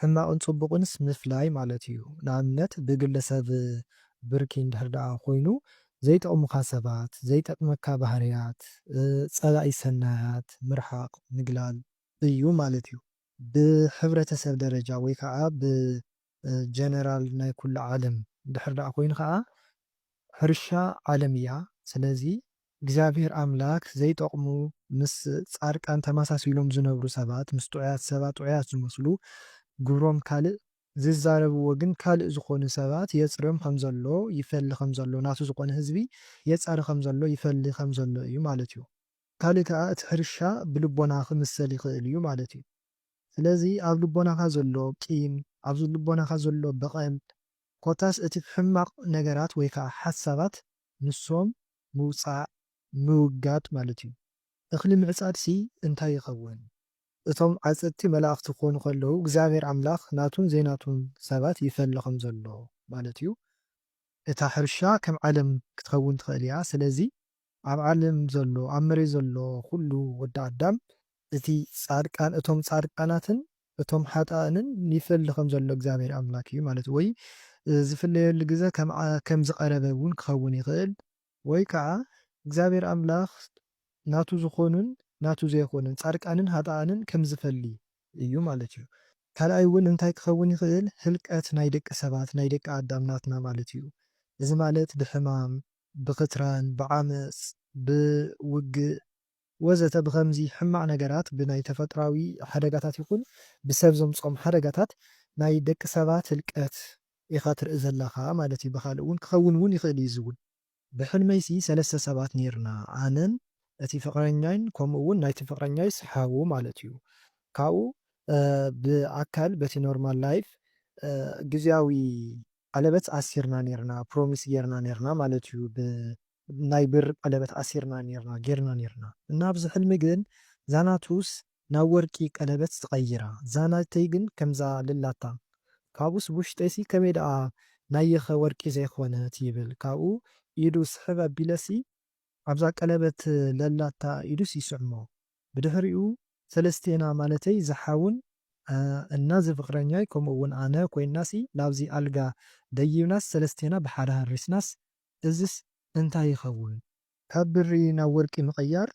ሕማቕን ጽቡቕንስ ምፍላይ ማለት እዩ። ንኣብነት ብግለ ሰብ ብርኪ እንድሕር ደኣ ኮይኑ ዘይጠቕሙኻ ሰባት፣ ዘይጠቅመካ ባህርያት፣ ጸላኢ ሰናያት ምርሓቕ፣ ምግላል፣ እዩ ማለት እዩ። ብሕብረተሰብ ደረጃ ወይ ከኣ ብጀነራል ናይ ኩሉ ዓለም እንድሕር ደኣ ኮይኑ ከኣ ሕርሻ ዓለም እያ። ስለዚ እግዚኣብሔር ኣምላክ ዘይጠቅሙ ምስ ፃድቃን ተመሳሲሎም ዝነብሩ ሰባት ምስ ጥዑያት ሰባት ጥዑያት ዝመስሉ ግብሮም ካልእ ዝዛረብዎ ግን ካልእ ዝኮኑ ሰባት የፅርዮም ከምዘሎ ይፈሊ ከምዘሎ ናቱ ዝኮነ ህዝቢ የፃሪ ከምዘሎ ይፈሊ ከምዘሎ እዩ ማለት እዩ ካልእ ከዓ እቲ ሕርሻ ብልቦና ክምሰል ይክእል እዩ ማለት እዩ ስለዚ ኣብ ልቦናካ ዘሎ ቂም ኣብ ልቦናካ ዘሎ በቀል ኮታስ እቲ ሕማቅ ነገራት ወይ ከዓ ሓሳባት ንሶም ምውጻእ ምውጋድ ማለት እዩ። እኽሊ ምዕጻድሲ እንታይ ይኸውን? እቶም ዓጸድቲ መላእኽቲ ክኾኑ ከለዉ እግዚኣብሔር ኣምላኽ ናቱን ዘይናቱን ሰባት ይፈሊ ከም ዘሎ ማለት እዩ። እታ ሕርሻ ከም ዓለም ክትኸውን ትኽእል እያ። ስለዚ ኣብ ዓለም ዘሎ ኣብ መሬት ዘሎ ኩሉ ወዲ ኣዳም እቲ ጻድቃን እቶም ጻድቃናትን እቶም ሓጣእንን ይፈሊ ከም ዘሎ እግዚኣብሔር ኣምላክ እዩ ማለት ወይ ዝፍለየሉ ግዘ ከም ዝቀረበ እውን ክኸውን ይኽእል። ወይ ከዓ እግዚኣብሔር ኣምላክ ናቱ ዝኾኑን ናቱ ዘይኾኑን ጻድቃንን ሃጣኣንን ከም ዝፈሊ እዩ ማለት እዩ። ካልኣይ እውን እንታይ ክኸውን ይኽእል ህልቀት ናይ ደቂ ሰባት ናይ ደቂ ኣዳም ናትና ማለት እዩ እዚ ማለት ብሕማም ብክትራን ብዓመጽ ብውግእ ወዘተ ብኸምዚ ሕማቕ ነገራት ብናይ ተፈጥሮኣዊ ሓደጋታት ይኹን ብሰብ ዘምጽኦም ሓደጋታት ናይ ደቂ ሰባት ህልቀት ኢኻ ትርኢ ዘለኻ ማለት እዩ ብኻልእ ውን ክኸውን ውን ይኽእል እዩ እዚ ውን። ብሕልመይሲ ሰለስተ ሰባት ኔርና ኣነን እቲ ፍቕረኛይን ከምኡ ውን ናይቲ ፍቕረኛይስ ሓው ማለት እዩ ካብኡ ብኣካል በቲ ኖርማል ላይፍ ግዝያዊ ቀለበት ኣሲርና ኔርና ፕሮሚስ ጌርና ኔርና ማለት እዩ ብ ናይ ብር ቀለበት ኣሲርና ኔርና ጌርና ኔርና እና ኣብዚ ሕልሚ ግን ዛናቱስ ናብ ወርቂ ቀለበት ትቀይራ ዛናተይ ግን ከምዛ ልላታ ካብኡስ ብውሽጠይሲ ከመይ ደኣ ናየኸ ወርቂ ዘይኮነት ይብል ካብኡ ኢዱ ስሕብ ኣቢለሲ ኣብዛ ቀለበት ለላታ ኢዱስ ይስዕሞ ብድሕሪኡ ሰለስቴና ማለተይ ዝሓውን እና ዝፍቅረኛይ ከምኡ እውን ኣነ ኮይናሲ ናብዚ ኣልጋ ደይብናስ ሰለስቴና ብሓደ ሃሪስናስ እዝስ እንታይ ይኸውን? ካብ ብሪ ናብ ወርቂ ምቕያር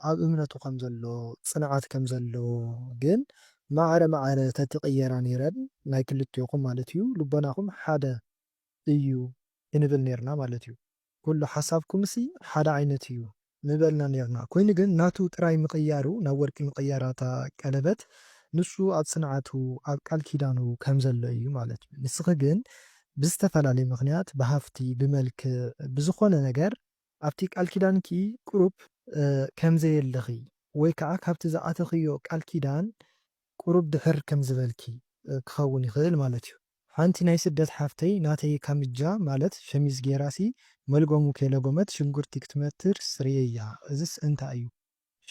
ኣብ እምነቱ ከም ዘሎ ጽንዓት ከም ዘለዎ ግን ማዕረ ማዕረ ተትቕየራ ኔረን ናይ ክልቴኹም ማለት እዩ ልቦናኹም ሓደ እዩ ክንብል ኔርና ማለት እዩ። ኩሉ ሓሳብኩምሲ ሓደ ዓይነት እዩ ምበልና ኔርና ኮይኑ ግን ናቱ ጥራይ ምቅያሩ ናብ ወርቂ ምቅያራ እታ ቀለበት ንሱ ኣብ ጽንዓቱ ኣብ ቃል ኪዳኑ ከም ዘሎ እዩ ማለት እዩ ንስኪ ግን ብዝተፈላለየ ምክንያት ብሃፍቲ ብመልክዕ ብዝኮነ ነገር ኣብቲ ቃል ኪዳንኪ ቁሩብ ከም ዘየለኺ ወይ ከኣ ካብቲ ዝኣተኽዮ ቃል ኪዳን ቁሩብ ድሕር ከምዚ በልኪ። ክኸውን ይኽእል ማለት እዩ። ሓንቲ ናይ ስደት ሓፍተይ ናተይ ካምጃ ማለት ሸሚዝ ጌራ ሲ መልጎሙ ከይለጎመት ሽንጉርቲ ክትመትርስ ርእየያ እዝስ እንታይ እዩ።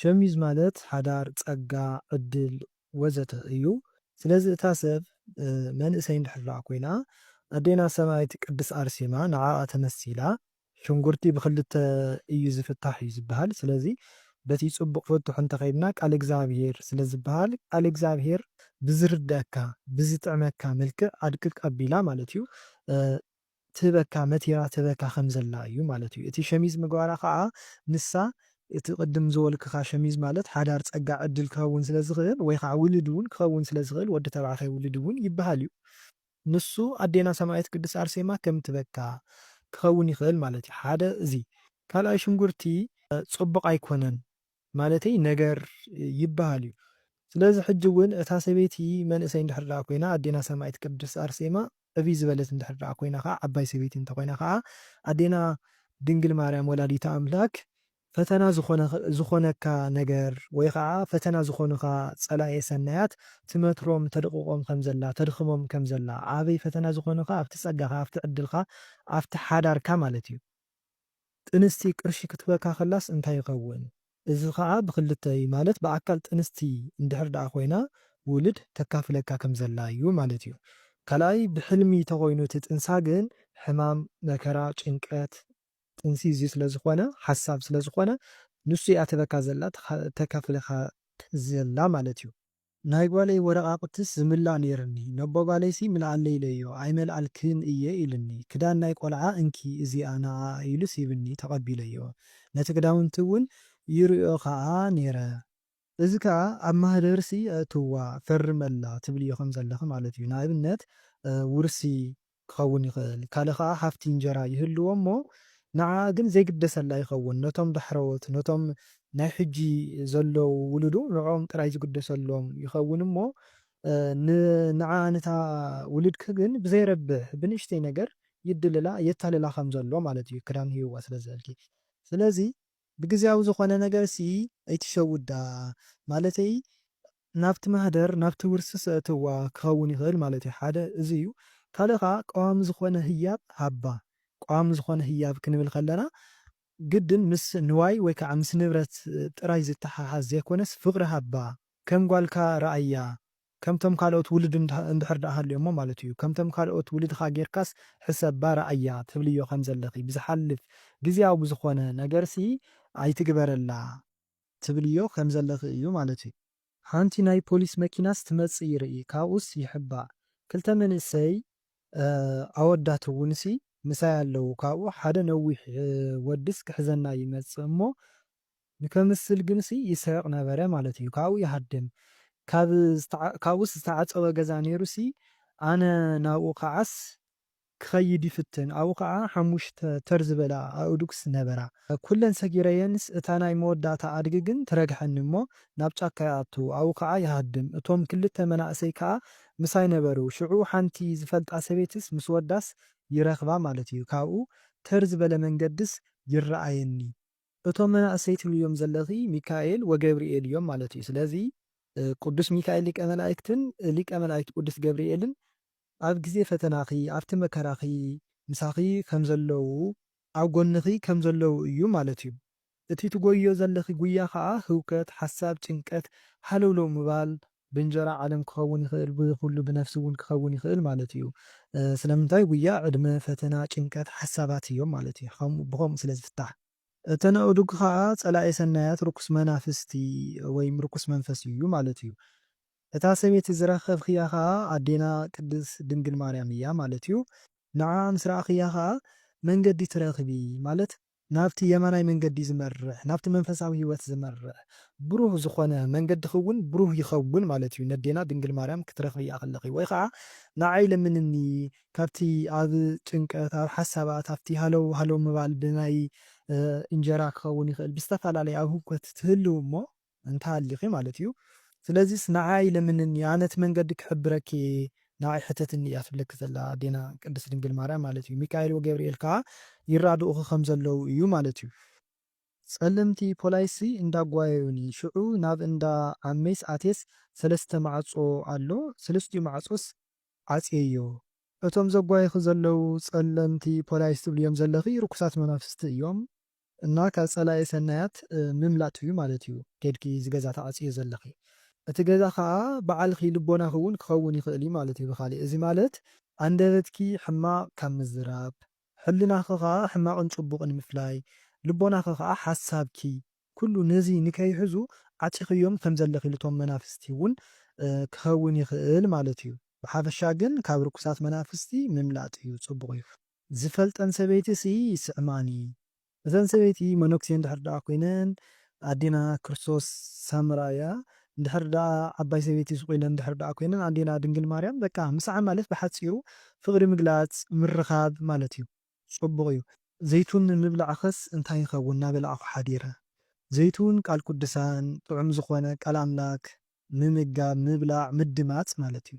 ሸሚዝ ማለት ሓዳር፣ ጸጋ፣ ዕድል ወዘተ እዩ ስለዚ እታ ሰብ መንእሰይ እንድሕር ኮይና ኣዴና ሰማእት ቅድስ ኣርሴማ ንዓኣ ተመሲላ ሽንጉርቲ ብክልተ እዩ ዝፍታሕ እዩ ዝበሃል ስለዚ በቲ ጽቡቅ ፍቱሕ እንተከይድና ቃል እግዝኣብሄር ስለ ዝበሃል ቃል እግዝኣብሄር ብዝርደኣካ ብዝጥዕመካ መልክዕ ኣድቅቅ ኣቢላ ማለት እዩ ትህበካ መቲራ ትህበካ ከም ዘላ እዩ ማለት እዩ እቲ ሸሚዝ ምግባራ ከኣ ንሳ እቲ ቅድም ዝበልኩካ ሸሚዝ ማለት ሓዳር ጸጋ ዕድል ክከውን ስለ ዝክእል ወይ ከኣ ውልድ ውን ክከውን ስለ ዝክእል ወዲ ተባዕታይ ውልድ ውን ይበሃል እዩ ንሱ ኣዴና ሰማኢት ቅድስት ኣርሴማ ከም ትበካ ክኸውን ይኽእል ማለት እዩ ሓደ እዚ ካልኣይ ሽንጉርቲ ጽቡቕ ኣይኮነን ማለተይ ነገር ይብሃል እዩ ስለዚ ሕጂ ውን እታ ሰበይቲ መንእሰይ እንድሕር ድኣ ኮይና ኣዴና ሰማኢት ቅድስት ኣርሴማ ዕብይ ዝበለት እንድሕር ድኣ ኮይና ከኣ ዓባይ ሰበይቲ እንተ ኮይና ከኣ ኣዴና ድንግል ማርያም ወላዲተ ኣምላክ ፈተና ዝኾነካ ነገር ወይ ኸዓ ፈተና ዝኾኑኻ ፀላኤ ሰናያት ትመትሮም ተድቕቖም ከም ዘላ ተድኽሞም ከም ዘላ ኣበይ ፈተና ዝኾኑኻ ኣብቲ ፀጋኻ ኣብቲ ዕድልካ ኣብቲ ሓዳርካ ማለት እዩ። ጥንስቲ ቅርሺ ክትበካ ከላስ እንታይ ይኸውን እዚ ኸዓ ብኽልተ እዩ ማለት ብኣካል ጥንስቲ እንድሕር ድኣ ኮይና ውልድ ተካፍለካ ከም ዘላ እዩ ማለት እዩ ካልኣይ ብሕልሚ ተኾይኑ እቲ ጥንሳ ግን ሕማም መከራ ጭንቀት ጥንሲ እዚ ስለ ዝኾነ ሓሳብ ስለ ዝኾነ ንሱ እያ ትህበካ ዘላ ተካፍለካ ዘላ ማለት እዩ። ናይ ጓለይ ወረቃቅትስ ዝምላእ ነይርኒ ነቦ ጓለይሲ ምልኣለይ ኢለዮ ኣይመልኣልክን እየ ኢሉኒ ክዳን ናይ ቆልዓ እንኪ እዚኣ ንዓኣ ኢሉስ ሂብኒ ተቀቢለዮ ነቲ ክዳውንቲ እውን ይሪኦ ከኣ ነይረ እዚ ከኣ ኣብ ማህደርሲ ኣእትዋ፣ ፈርመላ፣ ትብልዮ ከም ዘለኺ ማለት እዩ። ንኣብነት ውርሲ ክኸውን ይኽእል፣ ካልእ ከኣ ሃፍቲ እንጀራ ይህልዎ እሞ ንዓኣ ግን ዘይግደሰላ ይኸውን። ነቶም ዳሕረዎት፣ ነቶም ናይ ሕጂ ዘለዉ ውሉዱ ንዕኦም ጥራይ ዝግደሰሎም ይኸውን እሞ ንዓኣ ነታ ውልድኪ ግን ብዘይረብሕ ብንእሽተይ ነገር ይድልላ፣ የታልላ ከም ዘሎ ማለት እዩ፣ ክዳን ሂብዋ ስለ ዝበልኪ። ስለዚ። ብግዝያዊ ዝኾነ ነገርሲ ኣይትሸውዳ ማለተይ ናብቲ ማህደር ናብቲ ውርሲ ሰእትዋ ክኸውን ይኽእል ማለትዩ ሓደ እዚ እዩ ካልእ ከኣ ቀዋሚ ዝኾነ ህያብ ሃባ ቀዋሚ ዝኾነ ህያብ ክንብል ከለና ግድን ምስ ንዋይ ወይ ከኣ ምስ ንብረት ጥራይ ዝተሓሓዝ ዘይኮነስ ፍቕሪ ሃባ ከም ጓልካ ርኣያ ከምቶም ካልኦት ውሉድ እንድሕር ድኣ ሃልዮሞ ማለት እዩ። ከምቶም ካልኦት ውሉድኻ ጌርካስ ሕሰባ ርኣያ ትብልዮ ከም ዘለኺ ብዝሓልፍ ግዝያዊ ዝኾነ ነገርሲ ኣይትግበረላ ትብልዮ ከም ዘለኺ እዩ ማለት እዩ። ሓንቲ ናይ ፖሊስ መኪናስ ትመጽእ ይርኢ ካብኡስ ይሕባእ ክልተ መንእሰይ ኣወዳት እውንሲ ምሳይ ኣለዉ ካብኡ ሓደ ነዊሕ ወድስ ክሕዘና ይመጽእ እሞ ንከምስል ግንሲ ይስሕቅ ነበረ ማለት እዩ ካብኡ ይሃድም ካብ ካብኡስ ዝተዓጸወ ገዛ ኔሩሲ ኣነ ናብኡ ክዓስ ክከይድ ይፍትን ኣብኡ ክዓ ሓሙሽተ ተር ዝበላ ኣእዱግስ ነበራ ኩለን ሰጊረየንስ እታ ናይ መወዳእታ ኣድጊ ግን ትረግሐኒ እሞ ናብ ጫካ ይኣቱ ኣብኡ ክዓ ይሃድም እቶም ክልተ መናእሰይ ክዓ ምሳይ ነበሩ ሽዑ ሓንቲ ዝፈልጣ ሰበይትስ ምስ ወዳስ ይረክባ ማለት እዩ ካብኡ ተር ዝበለ መንገድስ ይረኣየኒ እቶም መናእሰይ ትብልዮም ዘለኺ ሚካኤል ወገብርኤል እዮም ማለት እዩ ስለዚ ቁዱስ ሚካኤል ሊቀ መላእክትን ሊቀ መላእክት ቁዱስ ገብርኤልን ኣብ ግዜ ፈተናኺ ኣብቲ መከራኺ ምሳኺ ከም ዘለዉ ኣብ ጎንኺ ከም ዘለዉ እዩ ማለት እዩ እቲ ትጎይዮ ዘለኺ ጉያ ከኣ ህውከት ሓሳብ ጭንቀት ሃለውለው ምባል ብእንጀራ ዓለም ክኸውን ይኽእል ብኹሉ ብነፍሲ እውን ክኸውን ይኽእል ማለት እዩ ስለምንታይ ጉያ ዕድመ ፈተና ጭንቀት ሓሳባት እዮም ማለት እዩ ከምኡ ብኸምኡ ስለ ዝፍታሕ። እተን ኣእዱግ ኸኣ ጸላኢ ሰናያት ርኩስ መናፍስቲ ወይም ርኩስ መንፈስ እዩ ማለት እዩ እታ ሰበይቲ ዝረኸብክያ ኸኣ ኣዴና ቅድስት ድንግል ማርያም እያ ማለት እዩ ንዓኣ ምስ ረኣኽያ ኸኣ መንገዲ ትረኽቢ ማለት ናብቲ የማናይ መንገዲ ዝመርሕ፣ ናብቲ መንፈሳዊ ሕይወት ዝመርሕ፣ ብሩህ ዝኾነ መንገድኺውን ብሩህ ይኸውን ማለት እዩ፣ ነዴና ድንግል ማርያም ክትረኽብያ ከለኺ፣ ወይ ኸዓ ንዓይ ለምንኒ፣ ካብቲ ኣብ ጭንቀት፣ ኣብ ሓሳባት፣ ኣብቲ ሃለው ሃለው ምባል፣ ብናይ እንጀራ ክኸውን ይኽእል፣ ብዝተፈላለየ ኣብ ህውከት ትህልው እሞ፣ እንተሃሊኺ ማለት እዩ ስለዚስ ንዓኣ ይለምንኒ ኣነ እቲ መንገዲ ክሕብረኪ እየ ንዓይ ሕተትኒ እያ ትብለኪ ዘላ ኣዴና ቅድስት ድንግል ማርያም ማለት እዩ ሚካኤል ወገብርኤል ከኣ ይራድኡኺ ከም ዘለዉ እዩ ማለት እዩ። ጸለምቲ ፖላይሲ እንዳ ጓየዩኒ ሽዑ ናብ እንዳ ዓመይስ ኣትየስ ሰለስተ ማዕጾ ኣሎ ሰለስቲኡ ማዕጾስ ዓጽየዮ። እቶም ዘጓዩኺ ዘለዉ ጸለምቲ ፖላይስ ትብልዮም ዘለኺ ርኩሳት መናፍስቲ እዮም። እና ካብ ፀላኢ ሰናያት ምምላጥ እዩ ማለት እዩ ከይድኪ እዚ ገዛ ትዓፅይዮ ዘለኺ እቲ ገዛ ከዓ ባዓልኺ ልቦናኺ እውን ክኸውን ይኽእል እዩ ማለት እዩ ብኻሊእ እዚ ማለት ኣንደበትኪ ሕማቕ ካብ ምዝራብ ሕልናኺ ከዓ ሕማቕን ፅቡቕን ምፍላይ ልቦናኺ ከዓ ሓሳብኪ ኩሉ ነዚ ንከይሕዙ ዓፂኽዮም ከም ዘለኺ ልቶም መናፍስቲ እውን ክኸውን ይኽእል ማለት እዩ ብሓፈሻ ግን ካብ ርኩሳት መናፍስቲ ምምላጥ እዩ ፅቡቕ እዩ። ዝፈልጠን ሰበይቲ ሲ ይስዕማኒ እተን ሰበይቲ መነኩሴ እንድሕር ደኣ ኮይነን ኣዴና ክርስቶስ ሳምራ እያ እንድሕር ደኣ ዓባይ ሰበይቲ ሱቅ ኢለን እንድሕር ደኣ ኮይነን ኣዴና ድንግል ማርያም በቃ ምስዓም ማለት ብሓጺሩ ፍቅሪ ምግላጽ ምርኻብ ማለት እዩ ጽቡቅ እዩ። ዘይቱን ምብላዕኸስ እንታይ ይኸውን ናበላዕኹ ሓዲረ ዘይቱን ቃል ቁድሳን ጥዑም ዝኾነ ቃል ኣምላክ ምምጋብ ምብላዕ ምድማጽ ማለት እዩ።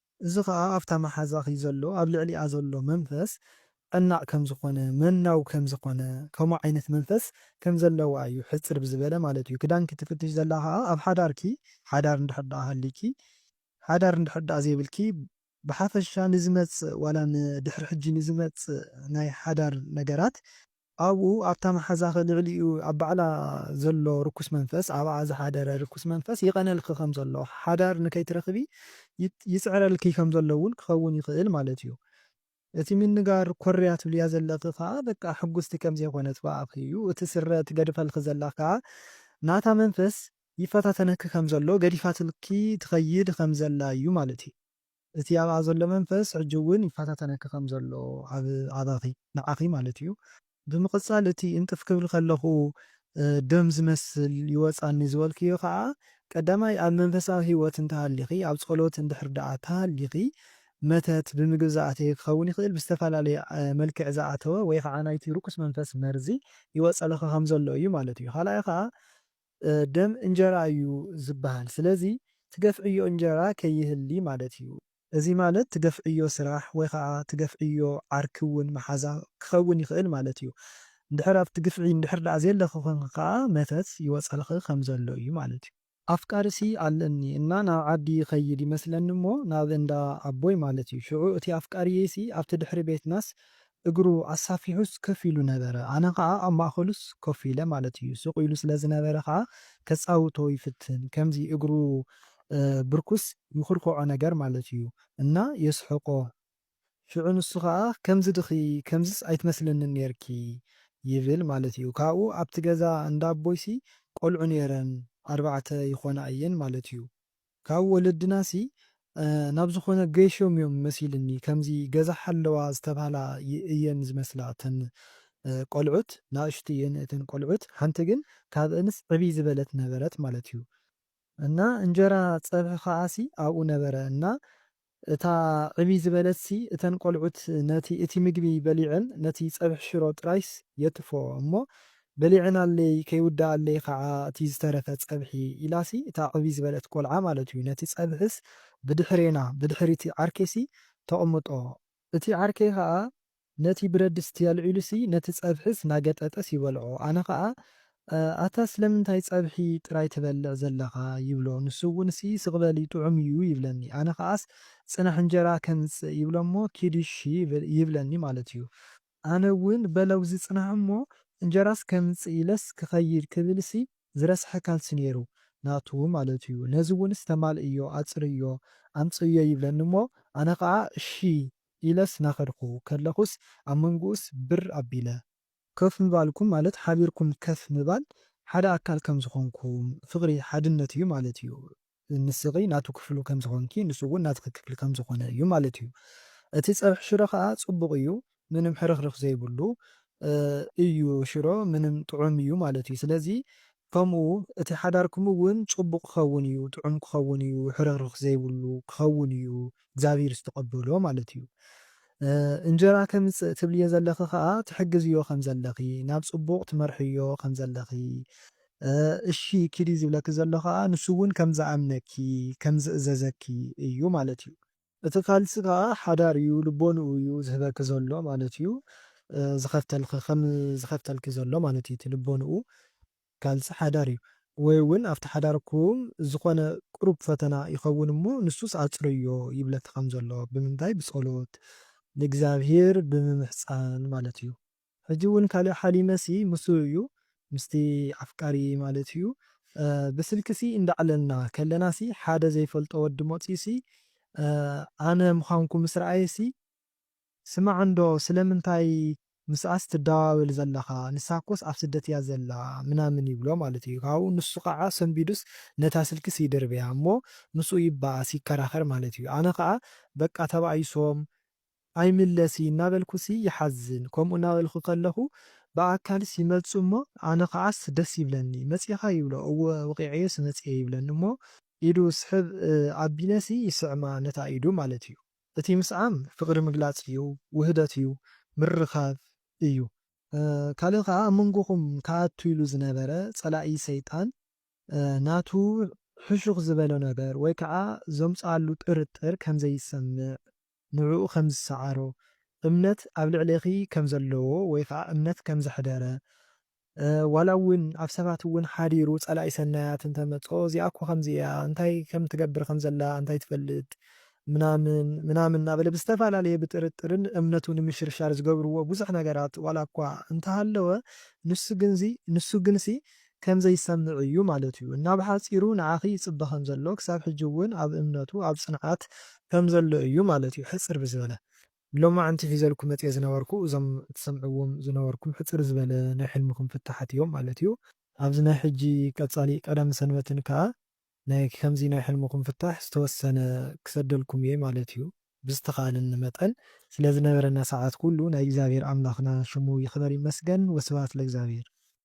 እዚ ኸኣ ኣብታ መሓዛኺ ዘሎ ኣብ ልዕሊኣ ዘሎ መንፈስ ጨናቕ ከም ዝኾነ መናው ከም ዝኾነ ከምኡ ዓይነት መንፈስ ከም ዘለዋ እዩ ሕጽር ብዝበለ ማለት እዩ ክዳንኪ ትፍትሺ ዘላ ኸኣ ኣብ ሓዳርኪ ሓዳር እንድሕር ድኣ ሃልይኪ ሓዳር እንድሕር ድኣ ዘይብልኪ ብሓፈሻ ንዝመጽእ ዋላ ንድሕሪ ሕጂ ንዝመጽእ ናይ ሓዳር ነገራት ኣብኡ ኣብታ መሓዛኺ ልዕሊኡ ኣብ ባዕላ ዘሎ ርኩስ መንፈስ ኣብኣ ዝሓደረ ርኩስ መንፈስ ይቐነልኪ ከም ዘሎ ሓዳር ንከይትረኽቢ ይጽዕረልኪ ከም ዘሎ እውን ክኸውን ይኽእል ማለት እዩ እቲ ምንጋር ኮርያ ትብልያ ዘለኺ ከኣ በቃ ሕጉስቲ ከም ዘይኮነት ብኣኺ እዩ እቲ ስረ ትገድፈልኪ ዘላ ከኣ ናታ መንፈስ ይፈታተነኪ ከም ዘሎ ገዲፋትልኪ ትኸይድ ከም ዘላ እዩ ማለት እዩ። እቲ ኣብኣ ዘሎ መንፈስ ሕጂ እውን ይፈታተነኪ ከም ዘሎ ኣብ ኣባኺ ንዓኺ ማለት እዩ ብምቕጻል እቲ እንጥፍ ክብል ከለኹ ደም ዝመስል ይወጻኒ ዝበልክዮ ከኣ ቀዳማይ ኣብ መንፈሳዊ ህይወት እንተሃሊኺ ኣብ ጸሎት እንድሕር ደኣ ተሃሊኺ መተት ብምግብ ዝኣተየ ክኸውን ይኽእል ብዝተፈላለየ መልክዕ ዝኣተወ ወይ ከኣ ናይቲ ርኩስ መንፈስ መርዚ ይወጸልኺ ከም ዘሎ እዩ ማለት እዩ ካልኣይ ከኣ ደም እንጀራ እዩ ዝብሃል ስለዚ ትገፍዕዮ እንጀራ ከይህሊ ማለት እዩ። እዚ ማለት ትገፍዕዮ ስራሕ ወይ ኸኣ ትገፍዕዮ ዓርኪ ውን መሓዛ ክኸውን ይኽእል ማለት እዩ። እንድሕር ኣብቲ ግፍዒ እንድሕር ደኣ ዘየለኺ ኮንኪ ከኣ መተት ይወጸልኺ ከም ዘሎ እዩ ማለት እዩ። ኣፍቃሪሲ ኣለኒ እና ናብ ዓዲ ይኸይድ ይመስለኒ እሞ ናብ እንዳ ኣቦይ ማለት እዩ ሽዑ እቲ ኣፍቃሪየይሲ ኣብቲ ድሕሪ ቤትናስ እግሩ ኣሳፊሑስ ከፍ ኢሉ ነበረ። ኣነ ከኣ ኣብ ማእከሉስ ኮፍ ኢለ ማለት ኢዩ። ስቕ ኢሉ ስለ ዝነበረ ከኣ ከጻውቶ ይፍትን። ከምዚ እግሩ ብርኩስ ይኹርኩዖ ነገር ማለት ኢዩ። እና የስሕቆ። ሽዑ ንሱ ከኣ ከምዚ ድኺ ከምዚስ ኣይትመስልንን ኔርኪ ይብል ማለት ኢዩ። ካብኡ ኣብቲ ገዛ እንዳ ኣቦይሲ ቆልዑ ኔረን ኣርባዕተ ይኾና ኢየን ማለት ኢዩ። ካብ ወለድናሲ ናብ ዝኾነ ገይሾም እዮም መሲልኒ ከምዚ ገዛ ሓለዋ ዝተብሃላ እየን ዝመስላ እተን ቆልዑት ናእሽቱ እየን እተን ቆልዑት ሓንቲ ግን ካብእንስ ዕብይ ዝበለት ነበረት ማለት እዩ እና እንጀራ ፀብሒ ከዓሲ ኣብኡ ነበረ እና እታ ዕብይ ዝበለትሲ እተን ቆልዑት ነቲ እቲ ምግቢ በሊዐን ነቲ ጸብሒ ሽሮ ጥራይስ የትፎ እሞ በሊዐናለይ ከይውደኣለይ ከኣ እቲ ዝተረፈ ጸብሒ ኢላሲ እታ ዕብይ ዝበለት ቆልዓ ማለት እዩ ነቲ ጸብሒስ ብድሕሬና ብድሕሪቲ ዓርከይሲ ተቕምጦ እቲ ዓርከይ ከኣ ነቲ ብረድስቲ ኣልዒሉሲ ነቲ ጸብሒስ ናገጠጠስ ይበልዖ። ኣነ ከኣ ኣታ ስለምንታይ ጸብሒ ጥራይ ትበልዕ ዘለኻ ይብሎ። ንሱ'ውንሲ ስቕ በል እዩ ጥዑም'ዩ ይብለኒ። ኣነ ከኣስ ጽናሕ እንጀራ ከምጽእ ይብሎ'ሞ ኪድ እሺ ይብለኒ ማለት'ዩ። ኣነ'ውን በለውዚ ጽናሕ'ሞ እንጀራስ ከምጽእ ኢለስ ክኸይድ ክብልሲ ዝረስሐ ካልሲ ነይሩ ናቱ ማለት'ዩ። ነዚ'ውንስ ተማልእዮ ኣጽርይዮ ኣምጽእዮ ይብለኒ'ሞ ኣነ ከኣ እሺ ኢለስ ናኸድኩ ከለኹስ ኣብ መንጉኡስ ብር ኣቢለ። ከፍ ምባልኩም ማለት ሓቢርኩም ከፍ ምባል ሓደ ኣካል ከም ዝኾንኩም ፍቕሪ ሓድነት እዩ ማለት እዩ ንስኺ ናቱ ክፍሉ ከም ዝኾንኪ ንሱ ውን ናትኺ ክፍሊ ከም ዝኾነ እዩ ማለት እዩ እቲ ጸብሒ ሽሮ ከኣ ጽቡቕ እዩ ምንም ሕርኽርኽ ዘይብሉ እዩ ሽሮ ምንም ጥዑም እዩ ማለት እዩ ስለዚ ከምኡ እቲ ሓዳርኩም እውን ጽቡቕ ክኸውን እዩ፣ ጥዑም ክኸውን እዩ፣ ሕርኽርኽ ዘይብሉ ክኸውን እዩ፣ እግዚኣብሂር ዝተቐበሎ ማለት እዩ። እንጀራ ከምጽእ ትብልዮ ዘለኺ ከኣ ትሕግዝዮ ከም ዘለኺ፣ ናብ ጽቡቕ ትመርሕዮ ከም ዘለኺ፣ እሺ ኪዲ ዝብለኪ ዘሎ ከኣ ንሱ እውን ከም ዝኣምነኪ፣ ከም ዝእዘዘኪ እዩ ማለት እዩ። እቲ ካልሲ ከኣ ሓዳር እዩ ልቦንኡ እዩ ዝህበኪ ዘሎ ማለት እዩ ዝኸፍተልኺ ከም ዝኸፍተልኪ ዘሎ ማለት እዩ እቲ ልቦንኡ ካልሲ ሓዳር እዩ ወይ እውን ኣብቲ ሓዳርኩም ዝኾነ ቅሩብ ፈተና ይኸውን እሞ ንሱስ ኣጽርዮ ይብለኪ ከም ዘሎ ብምንታይ ብጸሎት ንእግዚኣብሄር ብምምሕጻን ማለት እዩ ሕጂ ውን ካልእ ሓሊመ ሲ ምስኡ እዩ ምስቲ ኣፍቃሪይ ማለት እዩ ብስልኪ ሲ እንዳዕለልና ከለና ሲ ሓደ ዘይፈልጦ ወዲ መጽዩ ሲ ኣነ ምኻንኩ ምስ ረኣየ ሲ ስማዕ እንዶ ስለምንታይ ምስኣስ ትዳዋወል ዘለኻ ንሳኮስ ኣብ ስደት እያ ዘላ ምናምን ይብሎ ማለት እዩ ካብኡ ንሱ ካዓ ሰንቢዱስ ነታ ስልኪ ሲ ይድርብያ እሞ ምስኡ ይባኣስ ይከራኸር ማለት እዩ ኣነ ካዓ በቃ ተባኢሶም ኣይምለስይ እናበልኩሲ ይሓዝን ከምኡ እናበልኩ ከለኹ ብኣካልስ ይመጽኡ እሞ ኣነ ከዓስ ደስ ይብለኒ መጺእኻ ይብሎ እወ ወቒዐዮሲ መጺኤ ይብለኒ እሞ ኢዱ ስሕብ ኣቢለሲ ይስዕማ ነታ ኢዱ ማለት እዩ እቲ ምስዓም ፍቕሪ ምግላጽ እዩ ውህደት እዩ ምርኻብ እዩ ካልእ ከኣ ኣብ መንጎኹም ክኣቱ ኢሉ ዝነበረ ጸላኢ ሰይጣን ናቱ ሕሹኽ ዝበሎ ነገር ወይ ከኣ ዘምጽኣሉ ጥርጥር ከምዘይሰምዕ ንዕኡ ከም ዝሰዓሮ፣ እምነት ኣብ ልዕሌኺ ከም ዘለዎ ወይ ኸኣ እምነት ከም ዘሕደረ፣ ዋላ እውን ኣብ ሰባት እውን ሓዲሩ ጸላኢ ሰናያት እንተ መጾ እዚኣ እኮ ከምዚ እያ እንታይ ከም ትገብር ከም ዘላ እንታይ ትፈልጥ ምናምን ምናምን እናበለ ብዝተፈላለየ ብጥርጥርን እምነቱ ንምሽርሻር ዝገብርዎ ብዙሕ ነገራት ዋላ እኳ እንተ ሃለወ ንሱ ግንሲ ከምዘይሰምዕ እዩ ማለት እዩ እና ብሓፂሩ ንዓኺ ይፅበ ከምዘሎ ክሳብ ሕጂ እውን ኣብ እምነቱ ኣብ ፅንዓት ከምዘሎ እዩ ማለት እዩ ሕፅር ብዝበለ። ሎማዕንቲ ሒዘልኩም መፅየ ዝነበርኩ እዞም ትሰምዕዎም ዝነበርኩም ሕፅር ዝበለ ናይ ሕልምኹም ፍታሓት እዮም ማለት እዩ። ኣብዚ ናይ ሕጂ ቀፃሊ ቀዳምን ሰንበትን ከዓ ናይ ከምዚ ናይ ሕልምኹም ፍታሕ ዝተወሰነ ክሰደልኩም እየ ማለት እዩ። ብዝተኻኣለኒ መጠን ስለዝነበረና ሰዓት ኩሉ ናይ እግዚኣብሔር ኣምላኽና ሽሙ ይኽበር ይመስገን ወስብሃት ለእግዚኣብሔር።